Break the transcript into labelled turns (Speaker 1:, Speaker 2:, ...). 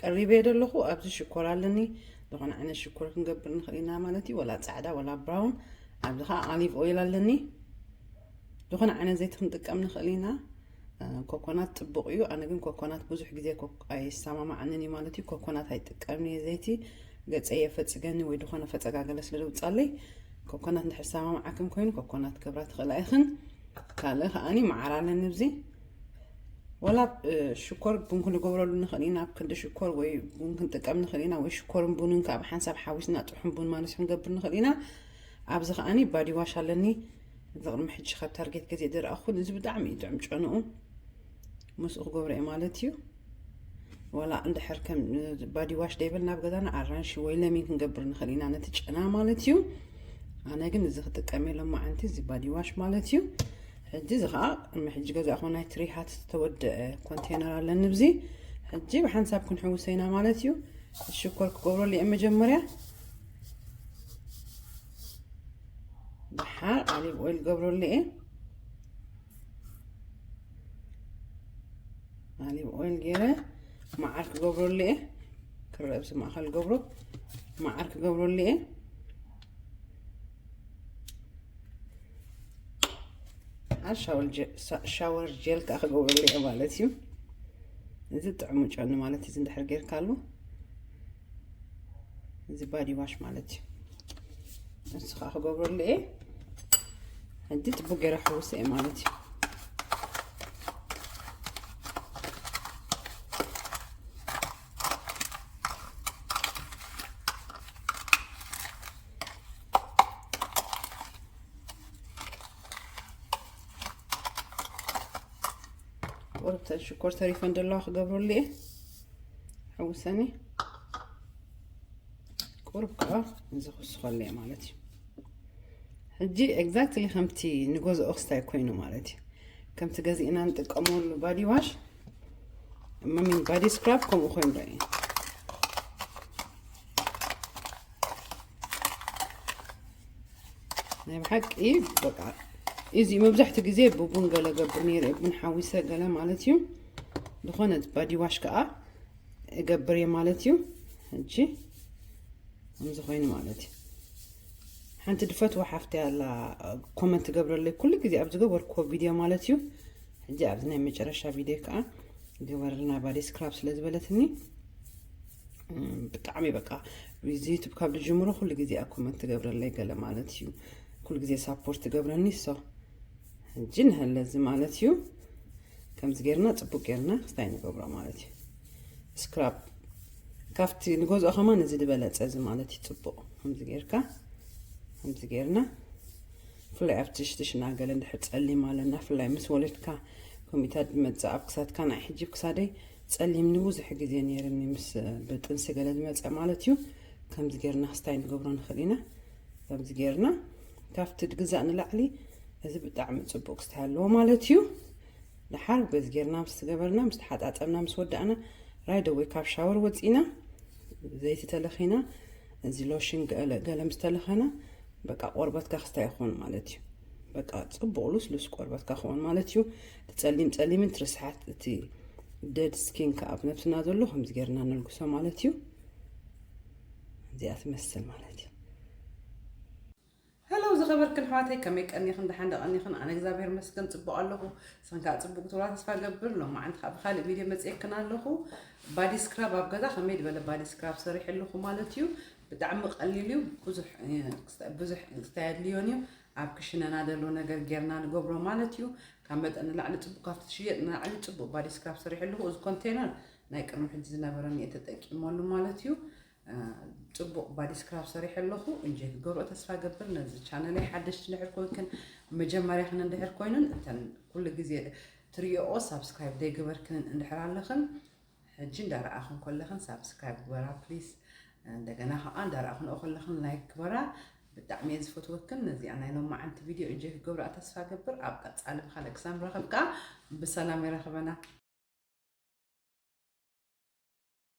Speaker 1: ቀሪበ እየ ዘለኹ ኣብዚ ሽኮር ኣለኒ ዝኾነ ዓይነት ሽኮር ክንገብር ንኽእል ኢና ማለት እዩ ወላ ፃዕዳ ወላ ብራውን ኣብዚ ከዓ ኣሊቭ ኦይል ኣለኒ ዝኾነ ዓይነት ዘይቲ ክንጥቀም ንኽእል ኢና ኮኮናት ፅቡቅ እዩ ኣነ ግን ኮኮናት ብዙሕ ግዜ ኣይሰማማዓንን እዩ ማለት እዩ ኮኮናት ኣይጥቀምን እየ ዘይቲ ገፀ የፈፅገኒ ወይ ዝኾነ ፈፀጋገለ ስለ ዝውፃለይ ኮኮናት እንድሕር ሰማማዓክን ኮይኑ ኮኮናት ክብራ ትኽእላ ኢኽን ካልእ ከዓኒ መዓር ኣለኒ እብዚ ወላ ሽኮር ቡን ክንገብረሉ ንኽእል ኢና ኣብ ክንዲ ሽኮር ወይ ቡን ክንጥቀም ንኽእል ኢና ወይ ሽኮርን ቡንን ካብ ሓንሳብ ሓዊስና ጥሑን ቡን ማለት ክንገብር ንኽእል ኢና ኣብዚ ከዓኒ ባዲ ዋሽ ኣለኒ እዚ ቅድሚ ሕጂ ካብ ታርጌት ገዜ ዝረኣኹን እዚ ብጣዕሚ እዩ ጥዑም ጨንኡ ምስኡ ክገብረ እየ ማለት እዩ ዋላ እንድሕር ከም ባዲዋሽ ደይብል ናብ ገዛና ኣራንሺ ወይ ለሚን ክንገብር ንኽእል ኢና ነቲ ጨና ማለት እዩ ኣነ ግን እዚ ክጥቀም የሎም መዓንቲ እዚ ባዲዋሽ ማለት እዩ ሕጂ እዚ ከዓ ሕጂ ገዛእኹ ናይ ትሪሃት ዝተወደአ ኮንቴነር ኣለኒ ብዚ ሕጂ ብሓንሳብ ክንሕውሰ ኢና ማለት እዩ ሽኮር ክገብረሉ እየ መጀመርያ ብሓር ኣሊቭ ኦይል ገብረሉ እየ ኣሊቭ ኦይል ገይረ መዓር ክገብረሉ እየ ክረአ ብዚ ማእኸል ገብሮ መዓር ክገብረሉ እየ ሻወር ጀል ከዓ ክገብረሉ እየ ማለት እዩ እዚ ጥዕሙ ጨኒ ማለት እዚ እንድሕር ጌርካሉ እዚ ባዲ ዋሽ ማለት እዩ ንሱ ከዓ ክገብረሉ እየ ሕጂ ፅቡቅ ገይረ ሕውሰ እየ ማለት እዩ ሽኮር ተሪፈን ዘለዋ ክገብረሉ እየ ሕውሰኒ ቁርብ ከዓ እዚ ክስኸለ ማለት እዩ ሕጂ ኤግዛክትሊ ከምቲ ንገዝኦ ክስታይ ኮይኑ ማለት እዩ ከምቲ ገዚእና ንጥቀመሉ ባዲ ዋሽ መሚን ባዲ ስክራብ ከምኡ ኮይኑ ዶ እዩ ናይ ብሓቂ በቃ እዚ መብዛሕትኡ ግዜ ብቡን ገለ ገብር ነይረ ቡን ሓዊሰ ገለ ማለት እዩ ዝኾነ ባዲዋሽ ከዓ እገብር እየ ማለት እዩ ሕጂ ከምዚ ኮይኑ ማለት እዩ ሓንቲ ድፈትዋ ሓፍቲ ኣላ ኮመንት ትገብረለይ ኩሉ ግዜ ኣብ ዝገበርክዎ ቪድዮ ማለት እዩ ሕጂ ኣብዚ ናይ መጨረሻ ቪድዮ ከዓ ገበረልና ባዲ ስክራብ ስለ ዝበለትኒ ብጣዕሚ በቃ እዚ ዩቱብ ካብ ዝጅምሮ ኩሉ ግዜ ኣብ ኮመንት ትገብረለይ ገለ ማለት እዩ ኩሉ ግዜ ሳፖርት ትገብረኒ ሶ ሕጂ ንህለዚ ማለት እዩ ከምዚ ጌርና ጽቡቅ ጌርና ክስታይ ንገብሮ ማለት እዩ ስክራፕ ካብቲ ንገዝኦ ከማ እዚ ዝበለጸ እዚ ማለት እዩ ጽቡቅ ከምዚ ጌርካ ከምዚ ጌርና ፍላይ ኣብቲ ሽትሽና ገለ እንድሕር ጸሊም ኣለና ፍላይ ምስ ወለድካ ኮሚታት ዝመጽእ ኣብ ክሳትካ ናይ ሕጂ ክሳደይ ጸሊም ንብዙሕ ግዜ ነይርኒ ምስ ብጥንሲ ገለ ዝመጸ ማለት እዩ ከምዚ ጌርና ክስታይ ንገብሮ ንኽእል ኢና ከምዚ ጌርና ካብቲ ድግዛእ ንላዕሊ እዚ ብጣዕሚ ጽቡቅ ክስታይ ኣለዎ ማለት እዩ ድሓር በዚ ጌርና ምስ ገበርና ምስ ተሓጣጠብና ምስ ወዳእና ራይደ ወይ ካብ ሻወር ወፂና ዘይቲ ተለኺና እዚ ሎሽን ገለ ምስ ተለኸና በቃ ቆርበትካ ክስታይ ይኸውን ማለት እዩ በቃ ጽቡቅ ሉስሉስ ቆርበትካ ክኸውን ማለት እዩ እቲ ጸሊም ጸሊምን እቲ ርስሓት እቲ ደድ ስኪን ከዓ ኣብ ነብስና ዘሎ ከምዚ ጌርና ነልግሶ ማለት እዩ እዚኣ ትመስል ማለት እዩ Hello ዝኸበርክን ኣሕዋተይ ከመይ ቀኒኽን ደሓን ዶ ቀኒኽን ኣነ እግዚኣብሔር ይመስገን ጽቡቕ ኣለኹ ንስኽን ከዓ ጽቡቕ ክትብላ ተስፋ ገብር ሎማዓንቲ ከዓ ብካልእ ቪድዮ መጽኤክን ኣለኹ ባዲ ስክራብ ኣብ ገዛ ከመይ ዝበለ ባዲ ስክራብ ሰሪሐ ኣለኹ ማለት እዩ ብጣዕሚ ቀሊል እዩ ብዙሕ ብዙሕ እንታይ ኣድልዮን እዩ ኣብ ክሽነና ዘሎ ነገር ጌርና ንገብሮ ማለት እዩ ካብ መጠን ንላዕሊ ጽቡቕ ካብቲ ትሽየጥ ንላዕሊ ጽቡቕ ባዲ ስክራብ ሰሪሐ ኣለኹ እዚ ኮንቴነር ናይ ቅድሚ ሕጂ ዝነበረኒ እየ ተጠቂመሉ ማለት እዩ ጽቡቅ ባዲ ስክራብ ሰሪሐ ኣለኹ እንጀ ክገብሮ ተስፋ ገብር ነዚ ቻነለይ ሓደሽቲ እንድሕር ኮንክን መጀመርያኽን እንድሕር ኮይኑን እተን ኩሉ ግዜ ትሪኦ ሳብስክራይብ ዘይገበርክንን እንድሕር ኣለኽን ሕጂ እንዳረኣኽን ኮለኽን ሳብስክራይብ ግበራ ፕሊስ እንደገና ከዓ እንዳረኣኽንኦ ኮለኽን ላይክ ግበራ ብጣዕሚ እየ ዝፈትወክን ነዚኣ ናይ ሎማዓንቲ ቪድዮ እጀ ክገብራ ተስፋ ገብር ኣብ ቀፃሊ ብካልእ ክሳብ ንራኸብ ከዓ ብሰላም የራኽበና